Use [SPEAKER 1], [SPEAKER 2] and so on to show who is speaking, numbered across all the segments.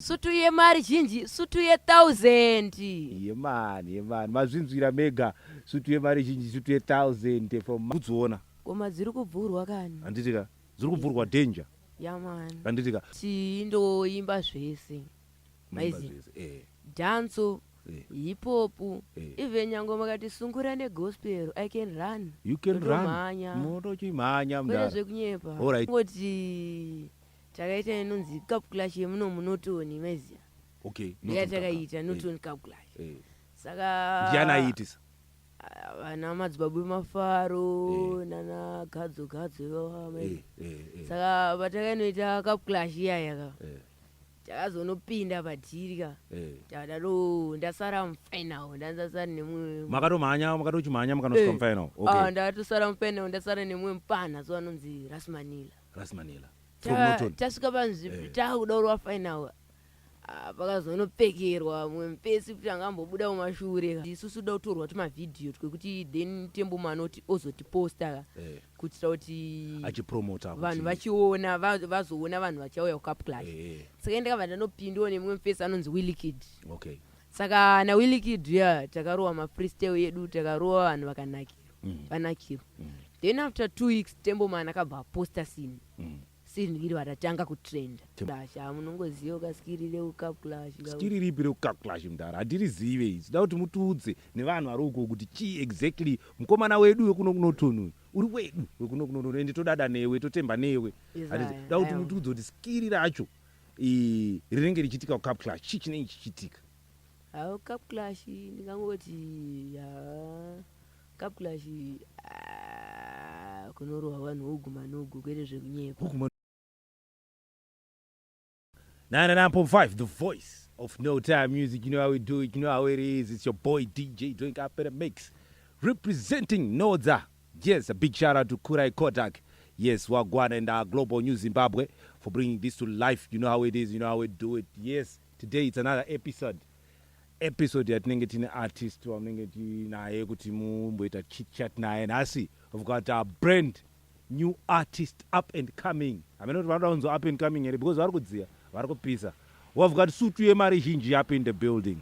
[SPEAKER 1] sutu yemari zhinji sutu yethousand yemani
[SPEAKER 2] yemani mazvinzwira mega sutu yemari zhinji sutu yethousand from kudziona koma dziri kubvurwa
[SPEAKER 1] kani handiti ka dziri kubvurwa
[SPEAKER 2] danger yamani handiti
[SPEAKER 1] ka chii
[SPEAKER 2] ndoimba
[SPEAKER 1] zvese maizi eh. danso eh. hipopu eh. even nyange makati sungura negospel i can run you can run
[SPEAKER 2] motochimhanya
[SPEAKER 1] mdara
[SPEAKER 2] zvekunyepa alright
[SPEAKER 1] ngoti takaita inonzi calculation yemuno munotoni maiziva okay ndiya
[SPEAKER 2] takaita
[SPEAKER 1] notoni calculation eh. saka ndiani aiitisa
[SPEAKER 2] ah, vana
[SPEAKER 1] madzibaba emafaro eh. nana gadzo gadzo ivava mai eh, saka patakainoita calculation iyaya ka takazonopinda padhiri ka takadaro ndasara mufinal ndanzasara nemumwe makatomhanya makatochimhanya
[SPEAKER 2] makanosvika mufinal ah, ndakatosara mufinal
[SPEAKER 1] ndasara nemumwe mupana so anonzi rasmanila Rasmanela. From Ta- Norton. tasvika panzvi Eh. takuda kurova final Ah, pakazonopfekerwa mumwe mupesi kuti anga ambobuda mumashure ka. isusu toda kutorwa tumavhidhiyo twekuti then temboma anoti ozotiposta ka Eh, kuitira kuti achipromota kuti- vanhu
[SPEAKER 2] vachiona
[SPEAKER 1] va- vazoona vanhu vachauya kucap clash Eh, eh, saka ndakabva ndanopindiwa nemumwe mupesi anonzi willikid okay. saka nawillikid uya takarowa mafreestyle edu takarowa vanhu vakanakirwa mm. vanakiro mm. then after two weeks tembo man akabva aposta sini mm. sini iri vatatanga kutrenda clash amunongoziva ah, ka skiri reucap clash skiri ripi reucap
[SPEAKER 2] clash mdara hatirizive izi da kuti mutiudze nevanhu vari uko kuti chii exactly mukomana wedu wekuno kunotonuyu uri wedu wekuno kunotonuyu ende todada newe totemba newe da kuti mutiudze kuti skiri racho rinenge richiitika kucap clash chii chinenge chichiitika Haa cup
[SPEAKER 1] clash ndingangoti haa cup clash haa kunorohwa vanhu woguma nogo kwete zvekunyepa. Woguma 99.5
[SPEAKER 2] the voice of no time music you know how we do it you know how it is it's your boy dj doing up in a mix representing nodza yes a big shout out to kurai kodak yes wagwana and our global new zimbabwe for bringing this to life you know how it is you know how we do it yes Today it's another episode episode yatinenge tine artist wamunenge tinaye kuti mumboita chitchat naye nhasi we've got a brand new artist up and coming hamene kuti vanoda kunzi up and coming here because vari kudziya vari kupisa we've got sutu yemari zhinji up in the building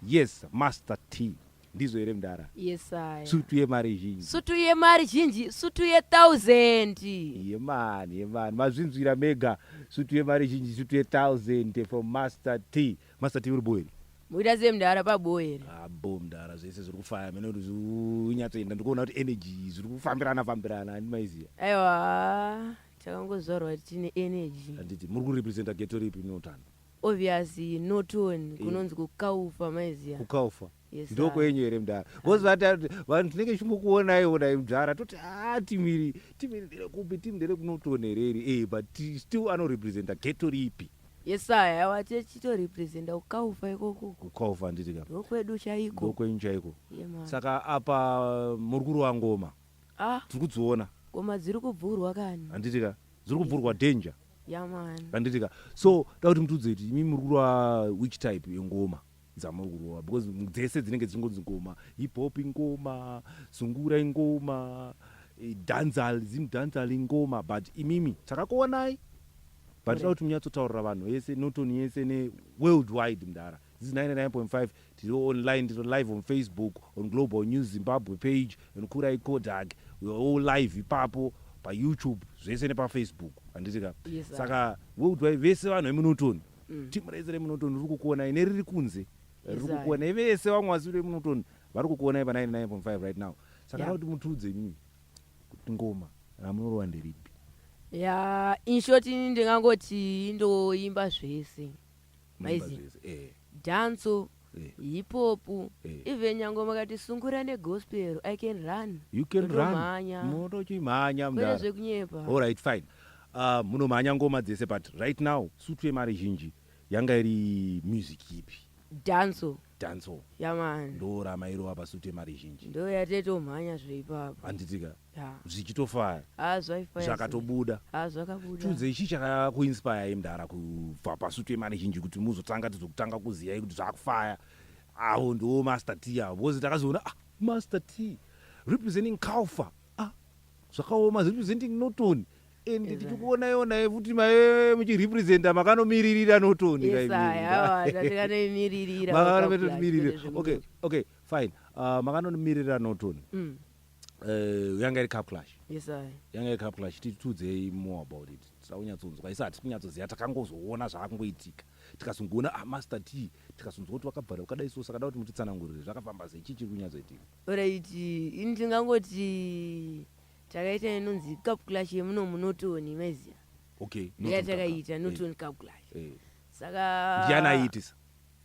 [SPEAKER 2] yes master t ndizvo here mdara yes, sutu
[SPEAKER 1] yemari zhinji
[SPEAKER 2] sutu yemari zhinji
[SPEAKER 1] sutu yethousand yemani
[SPEAKER 2] yemani mazvinzwira mega sutu yemari zhinji sutu yethousand from master t master t uri boeri muita sei mdara
[SPEAKER 1] paboeri abo ah, mdara
[SPEAKER 2] zvese zviri kufaya mene kuti zvinyatsoenda ndikuona kuti energy zviri kufambirana fambirana handimaiziva aiwa
[SPEAKER 1] takangozvarwa tine energy handiti muri kurepresenta
[SPEAKER 2] geto ripi neutano obvious
[SPEAKER 1] notoni kunonzi kukaufa maiziva kukaufa ndo
[SPEAKER 2] kwenyu here
[SPEAKER 1] mdhara
[SPEAKER 2] bcause vatati vanhu tinenge tichingokuonai onai mdhara toti a ah, timiri timiri ndere kupi timi ndere kunotoni here iri e but still anorepresenta geto ripi yesaya yawa
[SPEAKER 1] tichitorepresenta kukaufa ikoko kukaufa nditi ka
[SPEAKER 2] ndokwedu chaiko
[SPEAKER 1] ndokwenyu chaiko
[SPEAKER 2] saka
[SPEAKER 1] apa
[SPEAKER 2] murukuru wangoma ah. tiri kudziona koma dziri kuvhurwa
[SPEAKER 1] kani handiti ka dziri
[SPEAKER 2] kuvhurwa danger handiti
[SPEAKER 1] ka so
[SPEAKER 2] da kuti mutiudze kuti imi muri kurova which type yengoma dzamuri kurova because dzese dzinenge dzichingonzi ngoma hip hop ingoma sungura ingoma eh, danzal zim danzal ingoma but imimi takakuonai but da kuti munyatsotaurira vanhu vese notoni yese neworld wide mdara this is 99.5 Tiri online, tiri live on Facebook, on Global News Zimbabwe page, and Kurai Kodak. We are all live ipapo pa YouTube zvese nepa Facebook. Handiti ka? Yes, sir. Saka
[SPEAKER 1] weudwai
[SPEAKER 2] vese vanhu vemunotoni. Mm. Team rese remunotoni riri kukuonai neriri kunze. Riri Yes, sir. kukuonai vese vanhu vasi vemunotoni vari kukuonai pa 99.5 right now. Saka Yeah. yeah. kuti mutiudze imimi kuti ngoma ramunorova nderipi. ya
[SPEAKER 1] in short ini ndingangoti indoimba zvese Munoimba Maizi. zvese. Eh. danso Eh. hipopu Eh. even nyangwe makati sungura negospel i can run You can run. Ndotomhanya.
[SPEAKER 2] Motochimhanya kwete mdara. zvekunyepa
[SPEAKER 1] All right fine.
[SPEAKER 2] Uh, munomhanya ngoma dzese but right now sutu yemari zhinji yanga iri music ipi? danso
[SPEAKER 1] Danso.
[SPEAKER 2] yamani Ndorama
[SPEAKER 1] irova pasutu
[SPEAKER 2] yemari zhinji. ndoyatetomhanya
[SPEAKER 1] zveipapo Handitika.
[SPEAKER 2] zvichitofaya
[SPEAKER 1] ah,
[SPEAKER 2] zvakatobuda ah, tiudzei
[SPEAKER 1] chii
[SPEAKER 2] chakakuinspire mdara kubva pasutu yemari zhinji kuti muzotanga tizokutanga kuziyai kuti zvakufaya avo ndiwo master t avo because takazoona ah, master t representing calfa ah, zvakaoma representing noton and tichikuona yonai futi mae muchirepresenta makanomiririra notoni makanomiririra okay okay fine uh, ah, makanomiririra notoni mm. Eh, yanga iri cup clash yes i yanga iri cup clash titiudzei more about it tisaunyatsounzwa isi hatisi kunyatsoziva takangozoona zvaakungoitika tikazongoona ah, master t tikazonzwa kuti wakabvara wakadai so sakada kuti mutitsanangurire zvakafamba sei chii chiri kunyatsoitika alright ini
[SPEAKER 1] ndingangoti takaita inonzi cup clash yemuno munotoni maiziva okay not in Cup
[SPEAKER 2] yatakaita Clash.
[SPEAKER 1] notoni cup clash Eh, eh. saka ndiani aiitisa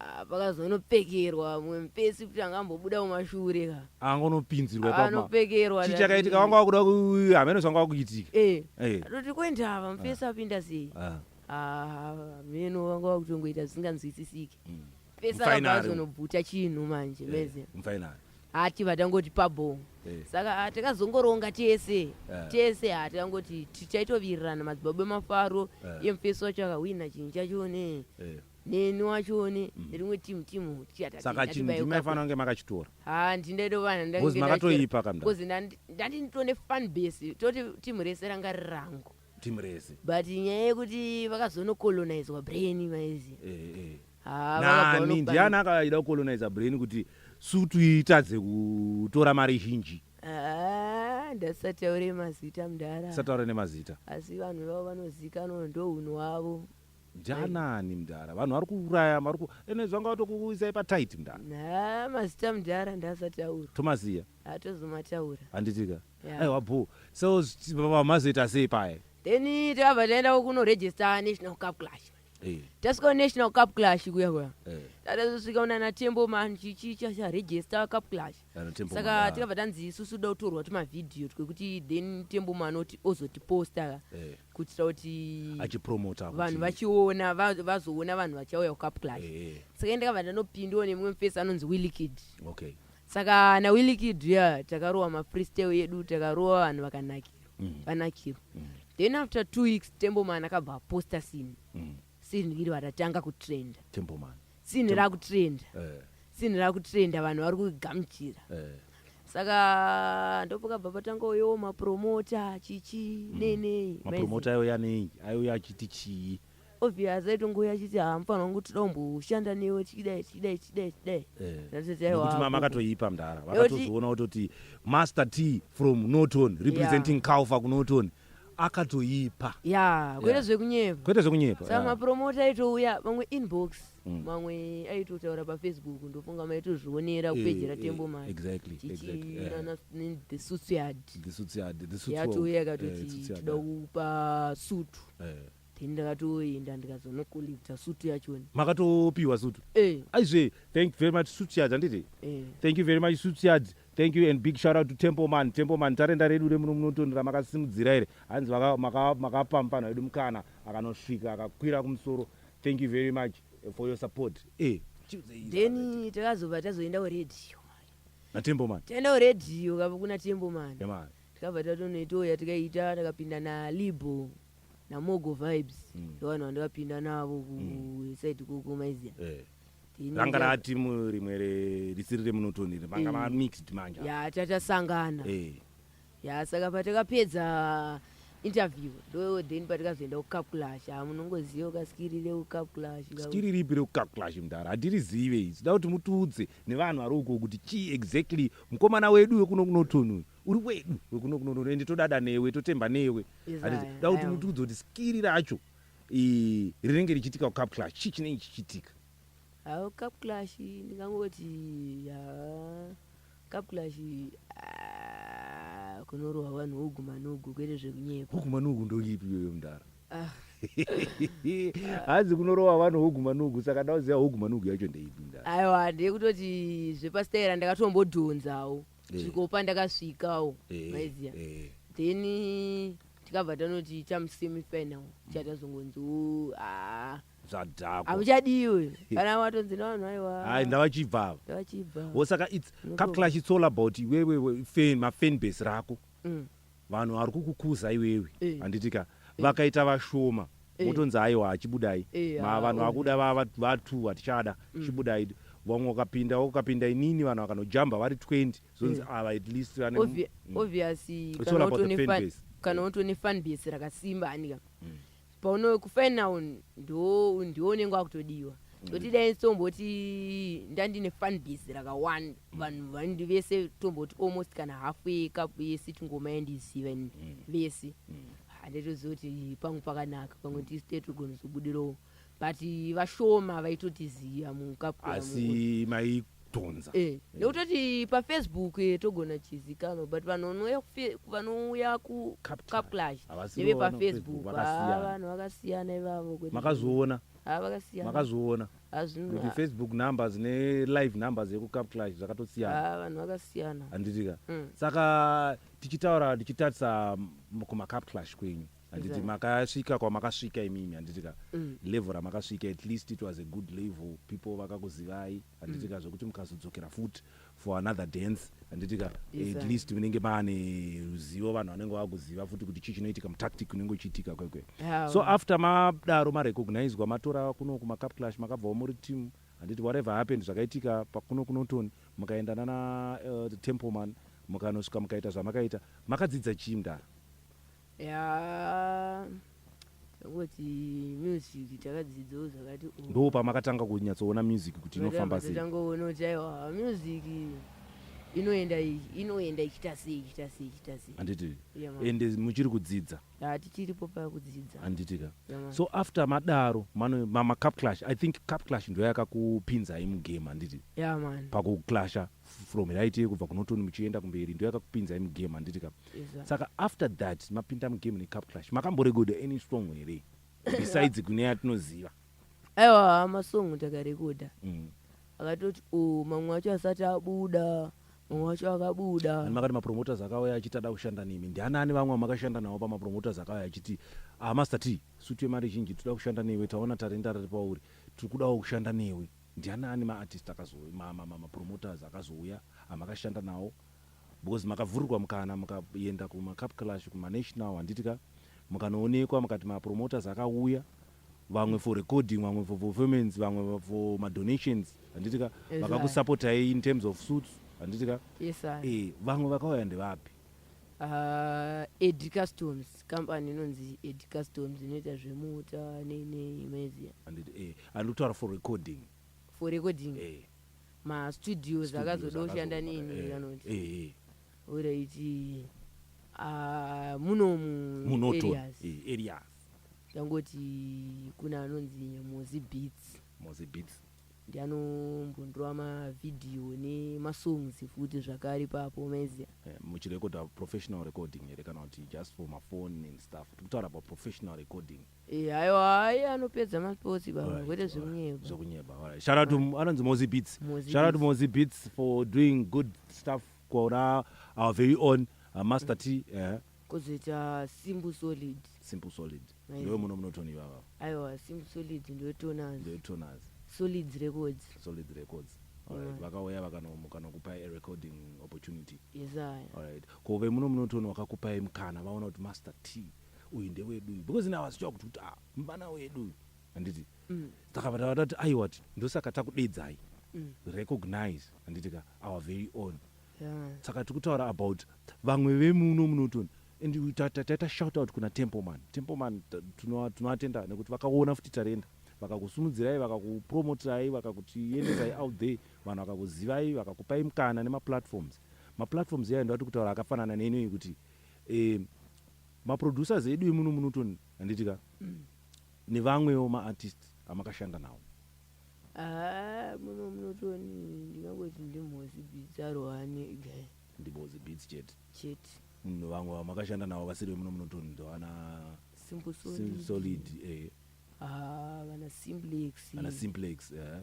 [SPEAKER 1] Ah, pakazonopfekerwa amwe mupesi kuti anga ambobuda kumashure ka angonopinzirwa ipapa
[SPEAKER 2] anopfekerwa chii
[SPEAKER 1] chakaitika wanga wakuda
[SPEAKER 2] ku- hameno zvanga wakuitika eh Eh. atoti
[SPEAKER 1] kwendava mupesi apinda sei Ah. Ah, meno vanga vakutongoita zvisinganzwisisiki Mm. pesa Mfaina vanga ari- vazonobvuta chinhu manje Eh, meze mufainari hati vatangoti pabhoo Eh. saka ah, takazongoronga tese Eh. tese ah, takangoti tichaitovirirana madzibaba emafaro Eh. iye mufesi wacho akahwina chinhu chacho ne Eh. neni wacho one mm. rimwe timu timu saka chinhu ndimi
[SPEAKER 2] maifanira kunge makachitora ha ndindaidovanabcoz makatoipa
[SPEAKER 1] kamcoz ndandinitone fan base toti timu rese ranga ri rangu timu rese
[SPEAKER 2] but nyaya yekuti
[SPEAKER 1] vakazonocolonizwa brain maizi eh, eh.
[SPEAKER 2] nani ndiani akaida kucoloniza brain kuti sutu itadze kutora mari zhinji ndasataure
[SPEAKER 1] mazita mdara sataure nemazita
[SPEAKER 2] asi vanhu vavo
[SPEAKER 1] vanozikanwa ndohunhu wavo Janani
[SPEAKER 2] mdara vanhu vari kuuraya vari ku ene zvanga vatokuisai patight mdara. Nah mazita mdara
[SPEAKER 1] ndasataura. Tomaziya.
[SPEAKER 2] Atozomataura.
[SPEAKER 1] Handitika.
[SPEAKER 2] Yeah. Aiwa bho. So vamazoita sei paye? Then tava
[SPEAKER 1] taenda kuno register National Cup Clash. Hey. Eh. Tasvika National Cup Clash kuya kuya. Hey. Eh. Tatazosvika una na Tembo man chichi cha cha register Cup Clash. Saka tikabva tanzi isusu da kutorwa tuma video twekuti then Tembo man oti ozotiposta. Hey. Eh. kuitira kuti achipromota vanhu
[SPEAKER 2] vachiona
[SPEAKER 1] vazoona vanhu vachauya kucapclash eh, eh. saka ende kava ndanopindiwa nemumwe mufesi anonzi willikid okay. saka nawillikid ya takarowa mafreestyle yedu takarowa vanhu vakanakirwa mm. vanakirwa mm. then after two weeks temboman akabva aposta sini mm. Scene iri ratanga kutrenda. Temple man. Scene Temple. rakutrenda. Eh. Scene rakutrenda vanhu vari kugamuchira. Eh. Saka ndopoka baba tanga uyo mapromota chichi mm. nene. Mapromota ayo yanei?
[SPEAKER 2] Ayo yachiti chii? obvious aitongo
[SPEAKER 1] yachiti hamufanira kungu tida kumboshanda newe tichidai tichidai tichidai tichidai
[SPEAKER 2] eh. mama akatoipa mdara vakatozoona kutoti master t from norton representing yeah. calfa kunorton akatoipa ya kwete Yeah.
[SPEAKER 1] zvekunyepa kwete zvekunyepa
[SPEAKER 2] saka yeah. mapromota
[SPEAKER 1] aitouya vamwe inbox Mm. vamwe aitotaura pafacebook ndofunga maitozvionera Eh, kupedzera eh, tembo mari exactly, exactly, yeah. chichiinana the suits yard The suits yard, the suits yatouya world. Eh, ikatoti suits yard, tida yeah. kupa sutu Eh. then ndakatoenda ndikazonokollecta sutu yachona makatopiwa sutu
[SPEAKER 2] Eh, aizve thank you very much suits yard handiti eh. thank you very much suits yard Thank you and big shout out to Templeman. Templeman tarenda redu remuno munotoni ramakasimudzira iri hanzi makapampanwa edu mukana akanosvika akakwira kumusoro. Thank you very much eh, for your support. Eh, then
[SPEAKER 1] takazobva tazoenda kuredhiyo naTempleman.
[SPEAKER 2] Taenda kuredhiyo
[SPEAKER 1] kava kuna Templeman. Yeah, tikabva tatonoitoya tikaita takapinda nalibo namogo vibes mm. ndovanhu mm. vandavapinda navo kuside mm. kuko maiziya eh. ranga
[SPEAKER 2] rati rimwe risiri remunotoni iri manga mm. mamixed manje ya tatasangana
[SPEAKER 1] eh. ya saka patakapedza interview ndo then patikazoenda kucalculash ah, munongoziva kaskiri reucalculash skiri ripi reucalculash
[SPEAKER 2] mudhara handirizive izi da kuti mutiudze nevanhu vari uko kuti chii exactly mukomana wedu wekuno kunotoni uyu uri wedu wekuno kunotoni ende todada newe totemba newe da kuti mutiudze kuti skiri racho i- rinenge richiitika kucap clash chii chinenge chichiitika Hawo cup
[SPEAKER 1] clash ndingangoti ya cup clash ah, kunorohwa vanhu hugu manugu kwete zvekunyepa. huku manugu ndoipi
[SPEAKER 2] iyoyo mdara Ah, hanzi kunorowa vanhu huku manugu saka ndauziva huku manugu yacho ndeipi mdara aiwa ndekutoti
[SPEAKER 1] zvepasitera ndakatombodhonzawo Eh. svikopa ndakasvikawo Eh, maiziya eh. then tikabva tanoti chamusemifinal chatazongonzi haa
[SPEAKER 2] zvadhakwa hamuchadiwe
[SPEAKER 1] kana watonzi navanhu aiwa hayi ndavachibva ava
[SPEAKER 2] ndavachibva wo saka
[SPEAKER 1] its Unoto-
[SPEAKER 2] capclash its all about iwewe fan mafan base rako Mm. vanhu
[SPEAKER 1] vari
[SPEAKER 2] kukukuza iwewe Eh. handiti ka
[SPEAKER 1] vakaita
[SPEAKER 2] vashoma Eh. wotonzi aiwa hachibudai Eh, ma ah, vanhu oh. vakuda vava vatu vatichada chibudai vamwe ukapinda ukapinda inini vanhu vakanojamba vari 20 zvonzi mm. ava at least vane Obvi mm. obvious
[SPEAKER 1] kana utone
[SPEAKER 2] fan kana utone fan
[SPEAKER 1] base rakasimba anika mm. pauno ku final ndo ndiwo unenge wakutodiwa mm. toti dai tomboti ndandine fan base rakawanda mm. vanhu vandi vese tomboti almost kana half ye cup yese tingoma yandiziva mm. vese mm. handitoziva kuti pangu pakanaka pamwe tisi tetogona zobudirawo but vashoma vaitotiziva mukapwa asi
[SPEAKER 2] mai tonza eh, nekutoti
[SPEAKER 1] pafacebook eh, togona chizikanwa but vanhu vanouya kufe- vanouya ku Cup cup clash Havasi neve vanoona pafacebook Facebook, vakasiyana. Ah, vanhu vakasiyana ivavo kwete. makazoona Ah,
[SPEAKER 2] vakasiyana makazoona
[SPEAKER 1] Ah, zvino- kuti
[SPEAKER 2] facebook numbers nelive numbers yekucap clash zvakatosiyana ah, vanhu vakasiyana
[SPEAKER 1] handitika Mm.
[SPEAKER 2] saka tichitaura tichitarisa m- kumacap clash kwenyu handiti makasvika kwamakasvika imimi handitika mm. level ramakasvika at least it was a good level people vakakuzivai handitika mm. zvekuti mukazodzokera futi for another dance handitika at least munenge maane ruzivo vanhu vanenge vakuziva futi kuti chii chinoitika mutactic unenge uchiitika kwekwe so after madaro marecognizwa matora kuno kumacapclash makabvawo muri team handiti whatever happened zvakaitika pakuno kunotoni mukaenda nana uh, templeman mukanosvika mukaita zvamakaita makadzidza chii mdara yaa
[SPEAKER 1] kuti music takadzidzoo zvakati oh. ndoo pamakatanga
[SPEAKER 2] kunyatsoona music kuti inofamba sei tangoona kuti aiwa
[SPEAKER 1] music inoenda iyi inoenda ichiita sei ichiita sei ichiita sei handiti
[SPEAKER 2] Yeah, mama. ende muchiri kudzidza yaa tichiripo paya
[SPEAKER 1] kudzidza handiti ka Yeah, mama. so
[SPEAKER 2] after madaro mano mama cup clash i think cup clash ndoyakakupinzai mugame handiti yaa mani pakuclasha from right kubva kunotoni muchienda kumberi ndo yakakupinzai mugame handiti ka Exactly. saka after that mapinda mugame necup clash makamborekodha any song here besides kune yatinoziva aiwa
[SPEAKER 1] masong takarekodha Mm. akatoti o mamwe acho asati abuda mamwe acho akabuda And makati mapromoters akauya
[SPEAKER 2] achiti ada kushanda nemi ndianani vamwe vamakashanda navo pamapromoters akauya achiti ah master t sutu yemari zhinji tinoda kushanda newe taona tarenda riri pauri tiri kudawo kushanda newe Ndianani ma artist akazouya ma ma ma promoters akazouya amakashanda nawo because makavhurirwa mukana mukaenda kuma cup clash kuma national handiti ka mukanoonekwa mukati ma promoters akauya vamwe for recording vamwe for performance vamwe for ma donations handiti ka Yes, sir. vakakusapotai in terms of suits handiti ka Yes, sir. eh vamwe vakauya ndevapi Ah,
[SPEAKER 1] ed customs company inonzi ed customs inoita zvemota nei nei maiziva Anditi, eh, andiri
[SPEAKER 2] kutaura for recording for recording eh,
[SPEAKER 1] mastudios studios akazoda kushanda akazoda- neni eh, vanoti eh, eh, oraiti ah, munomu munoto areas eh, areas
[SPEAKER 2] tangoti
[SPEAKER 1] kuna anonzi mozi beats mozi beats ndi anombondirova mavhidhiyo nemasongs futi zvakare ipapo maizia Eh, muchirekodha
[SPEAKER 2] professional recording here kana kuti just for mafoni and stuff tiri kutaura about professional recording Eh, aiwa ayi
[SPEAKER 1] anopedza masports baba Alright, kwete alright. zvekunyeba zvekunyeba alright. shout out to anonzi
[SPEAKER 2] mozi beats Mozi shout out to Beats. mozi beats for doing good stuff kwaura our very own uh, master t eh, kozoita
[SPEAKER 1] simple solid simple solid Right. ndiwe muno
[SPEAKER 2] munotoni ivava aiwa simple solid
[SPEAKER 1] ndotonaz ndetonaz solid records solid records alright Right. vakauya vakanomuka nokupa a recording opportunity yesaya alright ko vemuno munotoni wakakupai mukana vaona kuti master t uyu ndewedu uyu because now asichava kuti kuti ah mvana wedu uyu handiti Mm. saka vatava tati aiwa ti ndosaka takudeedzai Mm. recognize handiti ka our very own yeah. saka tiri kutaura about vamwe vemuno munotoni and taita shout out kuna templeman templeman tinovatenda nekuti vakaona futi tarenda vakakusimudzirai vakakupromoterai vakakutiendesai out there vanhu vakakuzivai vakakupai mukana nemaplatforms maplatforms yayo ndovati kutaura akafanana neinoi kuti eh, maproducers edu emuno munotoni handitika mm. nevamwewo maartist amakashanda nawo Ah, muno munotoni ndingangoti ndimhozi beats arohane guy ndimhozi
[SPEAKER 2] beats chete chete munhu vamwe vamakashanda navo vasiri vemuno munotoni ndovana simple solid,
[SPEAKER 1] solid
[SPEAKER 2] eh. ah,
[SPEAKER 1] vana simplex vana simplex eh.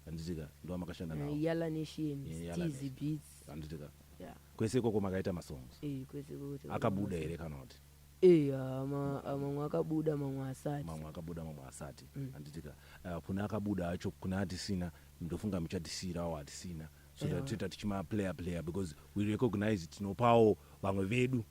[SPEAKER 2] handitika ndovamakashanda navo eh, yala nation eh,
[SPEAKER 1] stizy beats handitika
[SPEAKER 2] yeah. kwese ikoko makaita masongs
[SPEAKER 1] eh,
[SPEAKER 2] kwese akabuda here kana kuti Eh, ah, ma-
[SPEAKER 1] ah, mamwe akabuda mamwe asati mamwe akabuda mamwe asati
[SPEAKER 2] handitika uh, kune akabuda acho kune atisina ndofunga muchatisiirawo atisina so that toita tichima player player because we recognize tinopawo vamwe vedu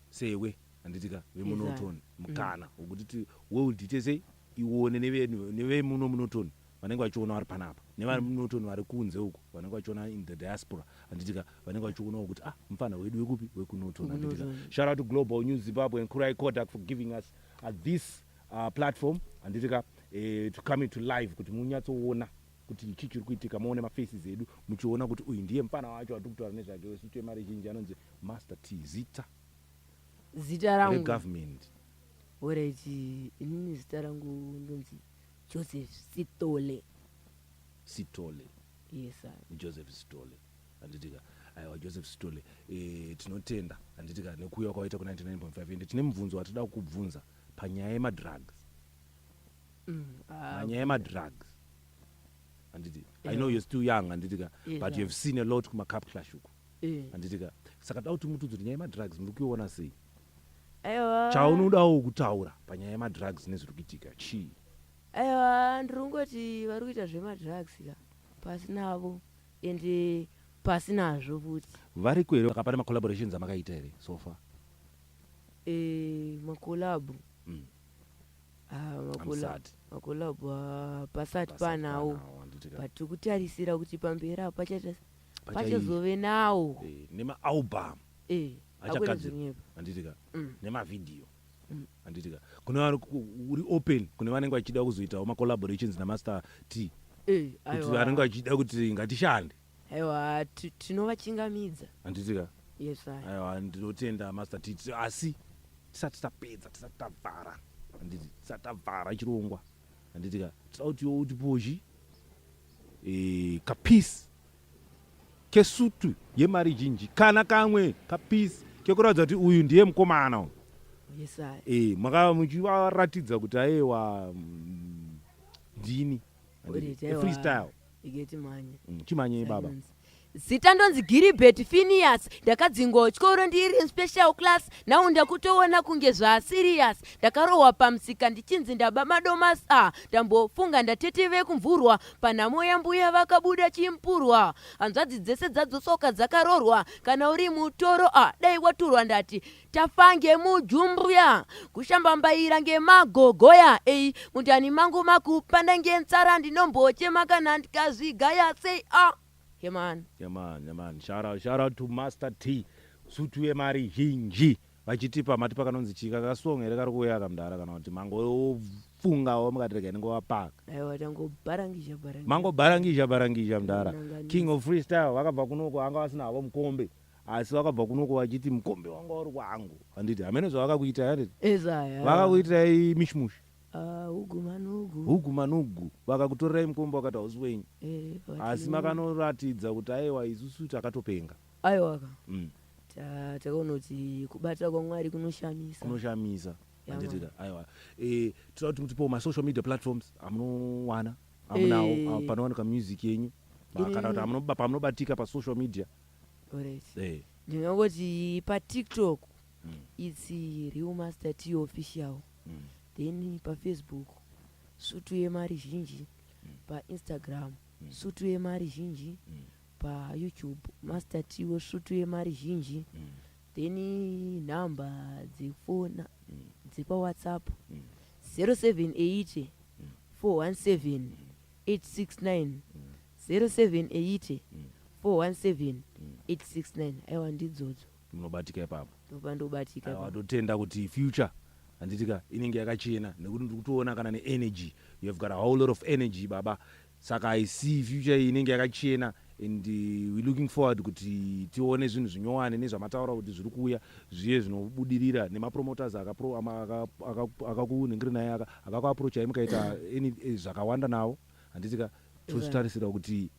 [SPEAKER 2] sewe handitika vemunotoni mukana wokuti ti- world ite sei iwone neve- nevemuno munotoni vanenge vachiona vari panapa nevamunoton mm. vari kunze uku vanenge vachiona in the diaspora handitika vanenge vachionawo kuti ah mufana wedu wekupi wekunoton handitika shout out to global new zimbabwe and kurai kodak for giving us uh, this uh, platform handitika eh, to come to live kuti munyatsoona kuti ichi chiri kuitika muone mafaces edu muchiona kuti uyu ndiye mufana wacho atiri kutaura nezvake wesu chemari zhinji anonzi master t zita
[SPEAKER 1] zita rangu government
[SPEAKER 2] oreti
[SPEAKER 1] inini zita rangu ndonzi Joseph Sithole. Sithole. Yes sir. Joseph Sithole.
[SPEAKER 2] Handiti ka aiwa Joseph Sithole e, tinotenda handiti ka nekuuya kwawaita ku 99.5 ende tine mubvunzo watida kukubvunza panyaya yemadrugs. Mm, ah, panyaya yemadrugs. Handiti. Yeah. I know you're still young handiti ka yeah, but yeah. you have seen a lot kuma cup clash uko. Eh. handiti ka saka toda kuti mutiudze kuti nyaya yemadrugs muri kuiona sei aiwa
[SPEAKER 1] chaunodawo
[SPEAKER 2] kutaura panyaya yemadrugs nezviri kuitika chii aiwa
[SPEAKER 1] ndiri kungoti vari kuita zvemadrugs ka pasi navo ende pasi nazvo futi variko here akapane
[SPEAKER 2] macollaborations amakaita here so far Eh,
[SPEAKER 1] makolabo Mm. Ah, makola- Hamusati. makolabo ah, pasati Pasati panawo panawo, handiti ka? but tikutarisira kuti pamberi apo pachaita pachazove nawo eh, nemaalbum
[SPEAKER 2] eh, achagadzira handitika mm. nemavhidhiyo mm. handitika kune uri open kune vanenge vachida kuzoitawo macollaborations namaster t eh, kuti vanenge vachida kuti ngatishande aiwa
[SPEAKER 1] tinovachingamidza handitika
[SPEAKER 2] yes aiwa
[SPEAKER 1] ndinotenda
[SPEAKER 2] master t asi tisati tapedza tisati tavhara handiti tisati tavhara chirongwa handiti ka sauti yo uti pozhi e, kapisi kesutu yemari zhinji kana kamwe kapisi kekuratidza kuti uyu ndiye mukomana uyu yes,
[SPEAKER 1] e, makava
[SPEAKER 2] muchivaratidza kuti ayewa mm, ndini freestyle Rege timhanye.
[SPEAKER 1] Mm, chimhanyei baba.
[SPEAKER 2] Silence. zita ndonzi
[SPEAKER 1] giribert finias ndakadzingwa kuchikoro ndiri in special class now ndakutoona kunge zvaasirias ndakarohwa pamusika ndichinzi ndaba madomas a ndambofunga ndatete vekumvurwa panhamo yambuya vakabuda chimpurwa hanzvadzi dzese dzadzosoka dzakarorwa kana uri mutoro a dai waturwa ndati tafa ngemujumbuya kushambambaira ngemagogoya ei mundani mangu makupanda ngenzara ndinombochema kana ndikazvigaya sei a ah, yeman yeman yeman shara shara to master t sutu yemari zhinji vachitipa mati pakanonzi chika kasong here kari kuuya kamdara kana kuti mangofungawo mukatirega inengovapaka mangobharangizha
[SPEAKER 2] bharangizha mdara king of freestyle vakabva kunoko anga vasina havo mukombe asi vakabva kunoko vachiti mukombe wanga uri wangu handiti hamene zvavakakuitai handiti ezaya vakakuitirai mishmushi Ah, ugu manugu hugu
[SPEAKER 1] manugu vakakutorerai mukombe
[SPEAKER 2] wakati hausi wenyu Eh, vati- asi makanoratidza kuti aiwa isusu takatopenga aiwaka Mm.
[SPEAKER 1] Ta- takaona kuti kubata kwamwari kunoshamisa kunoshamisa Yeah, handitida
[SPEAKER 2] aiwa Eh, tinoda kuti mutipewo masocial media platforms amunowana amunawo Eh. ah, panowanika music yenyu Ma- kana kuti Ini- amunoba- pamunobatika pasocial media eh. ndingangoti
[SPEAKER 1] patiktok mm. its real master t official mm. then pafacebook sutu yemari zhinji mm. painstagram mm. sutu yemari zhinji mm. payoutube master t wesutu yemari zhinji mm. then nhamba dzefona mm. dzepawhatsapp mm. 078 417 869 mm. 078417869 aiwa ndidzodzo munobatika ipapo
[SPEAKER 2] ndopa ndobatika ipapo
[SPEAKER 1] watotenda kuti
[SPEAKER 2] future handitika inenge yakachena nekuti ndiri kutoona kana neenergy you have got a whole lot of energy baba saka i see future iyi inenge yakachena and uh, we looking forward kuti tione zvinhu zvinyowani nezvamataura kuti zviri kuuya zviye zvinobudirira nemapromoters akapro- ama- aka- aka- akakunhingiri naye aka akakuaprochai mukaita any- eh, zvakawanda navo handitika tozvitarisira kuti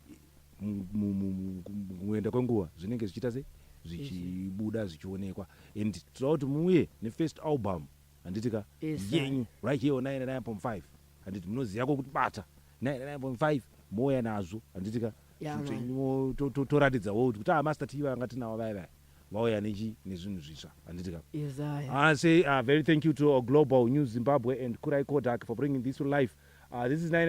[SPEAKER 2] muenda kwenguva zvinenge zvichiita sei zvichibuda zvichionekwa and tinoda kuti muuye nefirst album handiti ka yenyu right here 99.5 handiti munoziva kwokuti bata 99.5 mouya nazvo handiti ka toratidzawo kuti amasta ah, tiva vanga tinawo vaya vaya vauya nechi nezvinhu zvitsva handiti ka ah,
[SPEAKER 1] say uh, very
[SPEAKER 2] thank you to global new zimbabwe and kurai kodak for bringing this to life uh, this is 9